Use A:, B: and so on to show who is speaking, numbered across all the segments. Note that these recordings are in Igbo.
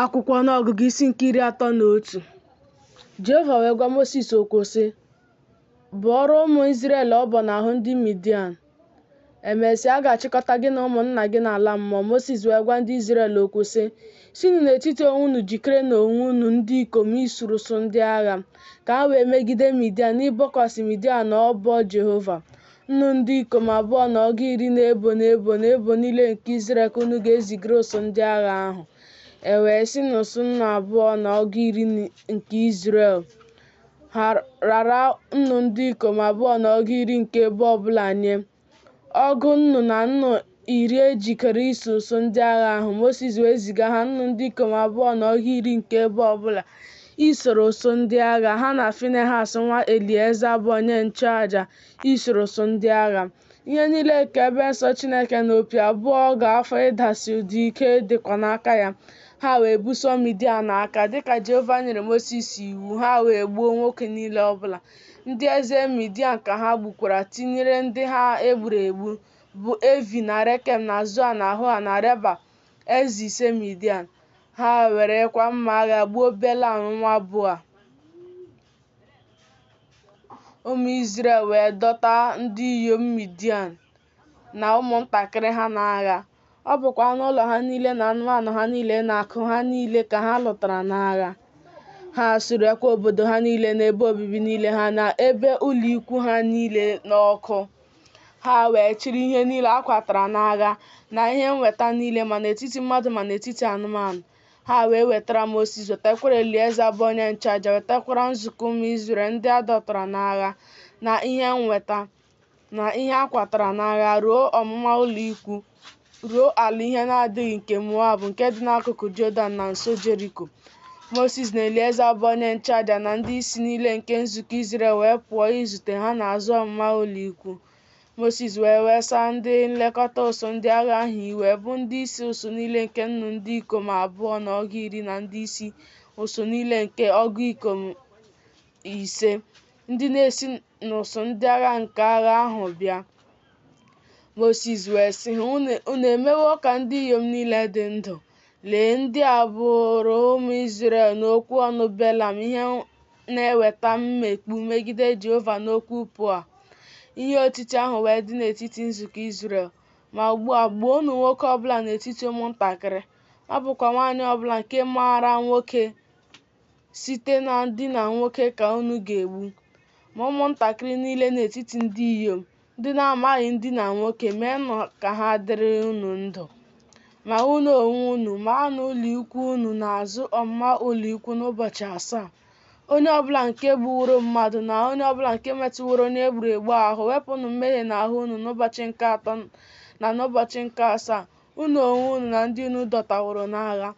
A: Akwụkwọ Ọnụọgụgụ isi nke iri atọ na otu Jehova wee gwa Mosis okwu sị, Bọọrọ ụmụ Izrel ọbọ n'ahụ ndị Midian. Emesịa, a ga-achịkọta gị na ụmụnna gị n'ala mmụọ. Mosis wee gwa ndị Izrel okwu sị, Sinụ n'etiti onwe unu jikere na onwe unu ndị ikom isoro ụsụ ndị agha, ka ha wee megide Midian, n'ịbọkwasị Midian ọbọ Jehova. Nnu ndị ikom abụọ na ọgụ iri n'ebo n'ebo n'ebo niile nke Izrel ka unu ga-ezigara ụsụ ndị agha ahụ. E wee si n'ụsụ nnu abụọ na ọgụ iri nke Izrel rara nnu ndị ikom abụọ na ọgụ iri nke ebo ọbụla nye. Ọgụ nnu na nnu iri e jikere iso ụsụ ndị agha ahụ, Mosis wee ziga ha nnu ndị ikom abụọ na ọgụ iri nke ebo ọ bụla isoro ụsụ ndị agha, ha na Finehas nwa Elieza bụ onye nchụaja isoro ụsụ ndị agha. Ihe niile nke ebe nsọ Chineke na opi abụọ a ga-afụ ịdasi ụda ike dịkwa n'aka ya. Ha wee buso Midian agha, dịka Jehova nyere Mosis iwu, ha wee gbuo nwoke niile ọ bụla. Ndị eze Midian ka ha gbukwara, tinyere ndị ha e gburu egbu. bụ Evi na Rekem na Zua na Hua na Reba, eze ise Midian. Ha werekwa mma agha gbuo Belam nwa Beoa. Ụmụ Izrel wee dọta ndị inyom Midian na ụmụntakịrị ha n'agha. Ọ bụkwa anụ ụlọ ha niile na anụmanụ ha niile na akụ ha niile ka ha lụtara n'agha. Ha surekwa obodo ha niile na ebe obibi niile ha na ebe ụlọ ikwu ha niile n'ọkụ. Ha wee chịrị ihe niile a kwatara n'agha na ihe nweta niile ma n'etiti mmadụ ma n'etiti anụmanụ. Ha wee wetara Mosis, wetakwara Elieza bụ onye nchụaja, wetakwara nzukọ ụmụ Izrel ndị a dọtara n'agha na ihe nweta na ihe a kwatara n'agha ruo ọmụma ụlọ ikwu ruo ala ihe na-adịghị nke Moab nke dị n'akụkụ Jọdan na nso Jeriko. Mosis na Elieza bụ onye nchụaja na ndị isi niile nke nzukọ Izrel wee pụọ izute ha n'azụ ọmụma ụlọikwu. Mosis wee wesaa ndị nlekọta ụsụ ndị agha ahụ iwe, bụ ndị isi ụsụ niile nke nnu ndị ikom abụọ na ọgụ iri na ndị isi ụsụ niile nke ọgụ ikom ise, ndị na-esi n'ụsụ ndị agha nke agha ahụ bịa. Mosis wee sị ha, "Unu emewo ka ndị inyom niile dị ndụ. Lee, ndị a bụụrụ ụmụ Izrel n'okwu ọnụ Belam ihe na-eweta mmekpu megide Jehova n'okwu Peoa. Ihe otiti ahụ wee dị n'etiti nzukọ Izrel. Ma ugbu a, gbuonụ nwoke ọbụla n'etiti ụmụntakịrị, ma ọ bụkwa nwaanyị ọbụla nke maara nwoke site na ndina nwoke ka unu ga-egbu ma ụmụntakịrị niile n'etiti ndị inyom ndị na-amaghị ndina nwoke meenụ ka ha dịrị unu ndụ ma unu onwe unu maanụ ụlọikwu unu n'azụ ọmụma ụlọikwu n'ụbọchị asaa onye ọbụla nke gbuworo mmadụ na onye ọbụla nke metụworo onye egburu egbu ahụ wepụnụ mmehie n'ahụ unu n'ụbọchị nke atọ na n'ụbọchị nke asaa unu onwe unu na ndị unu dọtaworo n'agha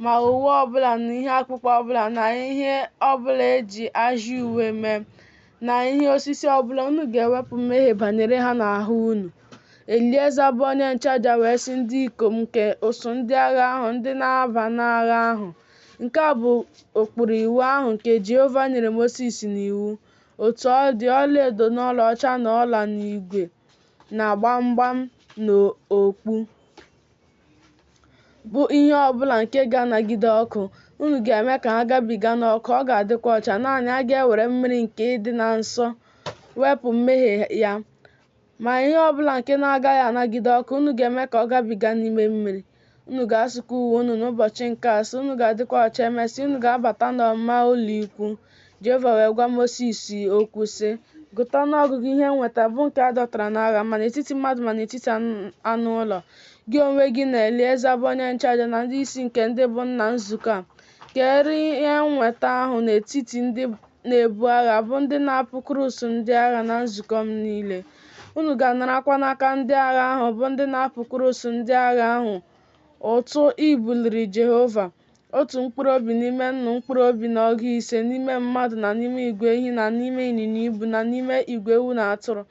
A: ma uwe ọbụla na ihe akpụkpọ ọbụla na ihe ọbụla e ji ajị uwe mee na ihe osisi ọbụla unu ga-ewepụ mmehie banyere ha n'ahụ unu elieza bụ onye nchụaja wee sị ndị ikom nke ụsụ ndị agha ahụ ndị na-aba n'agha ahụ nke a bụ ụkpụrụ iwu ahụ nke jehova nyere mosis n'iwu otu ọ dị ọlaedo na ọlaọcha na ọla na igwe na gbamgbam na okpu bụ ihe ọ bụla nke ga-anagide ọkụ, unu ga-eme ka ha gabiga n'ọkụ, ọ ga-adịkwa ọcha. Naanị a ga-ewere mmiri nke ịdị na nsọ wepụ mmehie ya. Ma ihe ọ bụla nke na-agaghị anagide ọkụ, unu ga-eme ka ọ gabiga n'ime mmiri. Unu ga-asụkwa uwe unu n'ụbọchị nke asaa, unu ga-adịkwa ọcha. Emesịa, unu ga-abata n'ọmụma ụlọikwu. Jehova wee gwa Mosis okwu sị, Gụta ọnụọgụgụ ihe nweta bụ nke a dọtara n'agha ma n'etiti mmadụ ma n'etiti anụ ụlọ. Gị onwe gị na Elieza bụ onye nchụaja na ndị isi nke ndị bụ nna nzukọ a, keere ihe nweta ahụ n'etiti ndị na-ebu agha bụ ndị na-apụkuru ụsụ ndị agha na nzukọ m niile. Unu ga-anarakwa n'aka ndị agha ahụ bụ ndị na-apụkuru ụsụ ndị agha ahụ ụtụ ibuliri Jehova Otu mkpụrụ obi n'ime nnu mkpụrụ obi na ọgụ ise n'ime mmadụ na n'ime igwe ehi na n'ime ịnyịnya ibu na n'ime igwe ewu na atụrụ.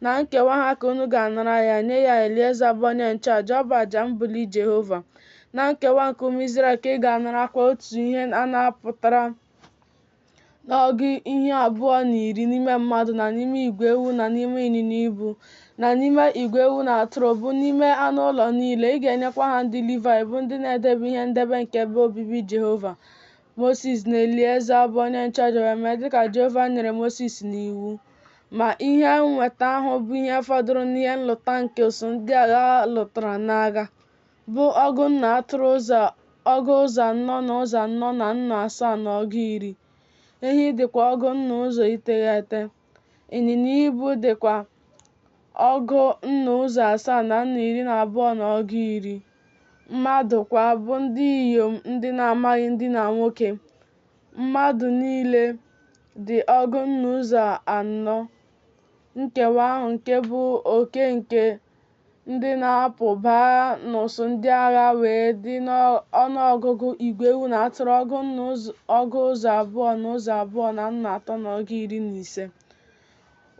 A: Na nkewa ha ka unu ga-anara ya, nye ya Elieza bụ onye nchụaja, ọ bụ aja mbuli Jehova. Na nkewa nke ụmụ Izrel ka ị ga-anarakwa otu ihe a napụtara n'ọgụ ihe abụọ na iri n'ime mmadụ na n'ime igwe ewu na n'ime ịnyịnya ibu na n'ime igwe ewu na atụrụ bụ n'ime anụ ụlọ niile ị ga-enyekwa ha ndị Livaị bụ ndị na-edebe ihe ndebe nke ebe obibi Jehova Mosis na Elieza bụ onye nchụaja wee mee dịka Jehova nyere Mosis n'iwu ma ihe nweta ahụ bụ ihe fọdụrụ n'ihe nlụta nke ụsụ ndị agha lụtara n'agha bụ ọgụ nnu atụrụ ụzọ ọgụ ụzọ anọ na ụzọ anọ na nnu asaa na ọgụ iri ehi dịkwa ọgụ nnu ụzọ iteghete ịnyịnya ibu dịkwa ọgụ nnu ụzọ asaa na nnu iri na abụọ na ọgụ iri mmadụ kwa bụ ndị inyom ndị na-amaghị ndina nwoke mmadụ niile dị ọgụ nnu ụzọ anọ nkewa ahụ nke bụ oke nke ndị na-apụ baa n'ụsụ ndị agha wee dị n'ọnụọgụgụ igwe ewu na atụrụ ọgụ nnu ọgụ ụzọ abụọ na ụzọ abụọ na nnu atọ na ọgụ iri na ise.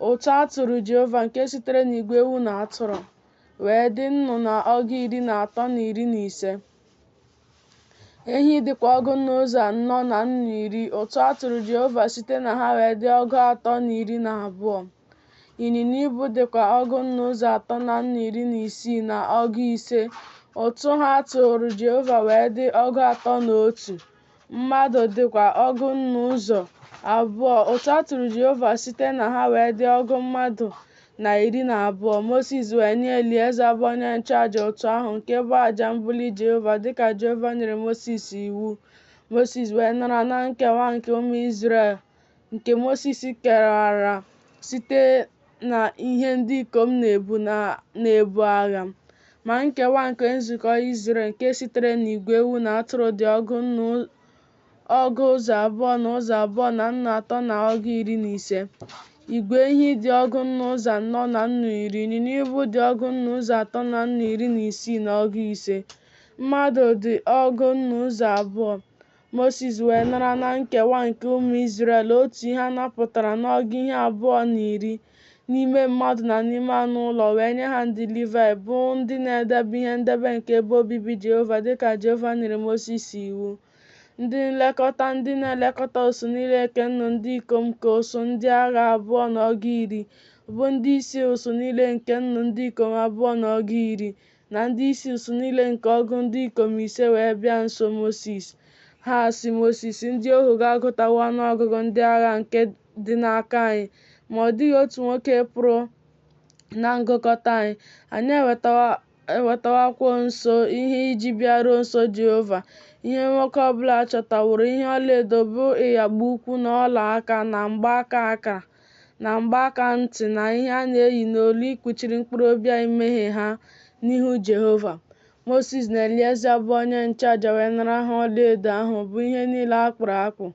A: Ụtụ a tụrụ Jehova nke sitere n'igwe ewu na atụrụ wee dị nnu na ọgụ iri na atọ na iri na ise. Ehi dịkwa ọgụ nnu ụzọ anọ na nnu iri. Ụtụ a tụrụ Jehova site na ha wee dị ọgụ atọ na iri na abụọ. Ịnyịnya ibu dịkwa ọgụ nnu ụzọ atọ na nnu iri na isii na ọgụ ise. Ụtụ ha tụụrụ Jehova wee dị ọgụ atọ na otu. Mmadụ dịkwa ọgụ nnu ụzọ abụọ. Ụtụ a tụrụ Jehova site na ha wee dị ọgụ mmadụ na iri na abụọ. Mosis wee nye Elieza bụ onye nchụaja ụtụ ahụ nke bụ aja mbuli Jehova dịka Jehova nyere Mosis iwu. Mosis wee nara na nkewa nke ụmụ Izrel. nke Mosis kewara site na ihe ndị ikom na-ebu agha, ma nkewa nke nzukọ Izrel nke sitere n'igwe ewu na atụrụ dị ọgụ nnu ọgụ ụzọ abụọ na ụzọ abụọ na nnu atọ na ọgụ iri na ise, igwe ehi dị ọgụ nnu ụzọ anọ na nnu iri, ịnyịnya ibu dị ọgụ nnu ụzọ atọ na nnu iri na isii na ọgụ ise, mmadụ dị ọgụ nnu ụzọ abụọ. Mosis wee nara na nkewa nke ụmụ Izrel otu ihe a napụtara n'ọgụ ihe abụọ na iri n'ime mmadụ na n'ime anụ ụlọ wee nye ha ndị Livaị bụ ndị na-edebe ihe ndebe nke ebe obibi Jehova dịka Jehova nyere Mosis iwu. Ndị nlekọta ndị na-elekọta ụsụ niile nke nnu ndị ikom nke ụsụ ndị agha abụọ na ọgụ iri bụ ndị isi ụsụ niile nke nnu ndị ikom abụọ na ọgụ iri na ndị isi ụsụ niile nke ọgụ ndị ikom ise wee bịa nso Mosis. Ha sị Mosis, Ndị ohu gị agụtawo ọnụ ọgụgụ ndị agha nke dị n'aka anyị, ma ọ dịghị otu nwoke pụrụ na ngụkọta anyị. Anyị ewetawokwa nso ihe iji bịaruo nso Jehova. Ihe nwoke ọ bụla chọtaworo ihe ọlaedo bụ ịyagba ụkwụ na ọla aka na mgbaaka akara. na mgbaaka ntị na ihe a na-eyi n'olu ikpuchiri mkpụrụ obi anyị mmehie ha n'ihu Jehova. Mosis na Elieza bụ onye nchụaja wee nara ha ọlaedo ahụ bụ ihe niile a kpụrụ akpụ,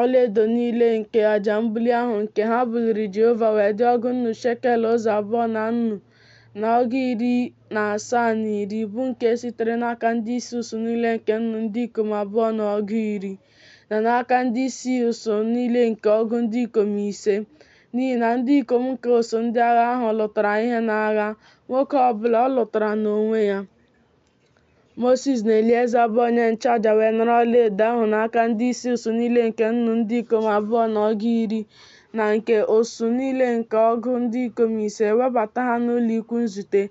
A: ọlaedo niile nke aja mbuli ahụ nke ha buliri Jehova wee dị ọgụ nnu shekel ụzọ abụọ na nnu na ọgụ iri na asaa na iri, bụ nke sitere n'aka ndị isi ụsụ niile nke nnu ndị ikom abụọ na ọgụ iri. na n'aka ndị isi usuu niile nke ọgụ ndị ikom ise, n'ihi na ndị ikom nke usuu ndị agha ahụ lụtara ihe n'agha, nwoke ọ bụla ọ lụtara n'onwe ya. Mosis na Elieza bụ onye nchụaja wee nara ọlaedo ahụ n'aka ndị isi usuu niile nke nnụ ndị ikom abụọ na ọgụ iri, na nke usuu niile nke ọgụ ndị ikom ise, webata ha n'ụlọ ikwu nzute,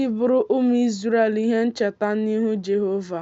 A: ịbụrụ ụmụ Izrel ihe ncheta n'ihu Jehova.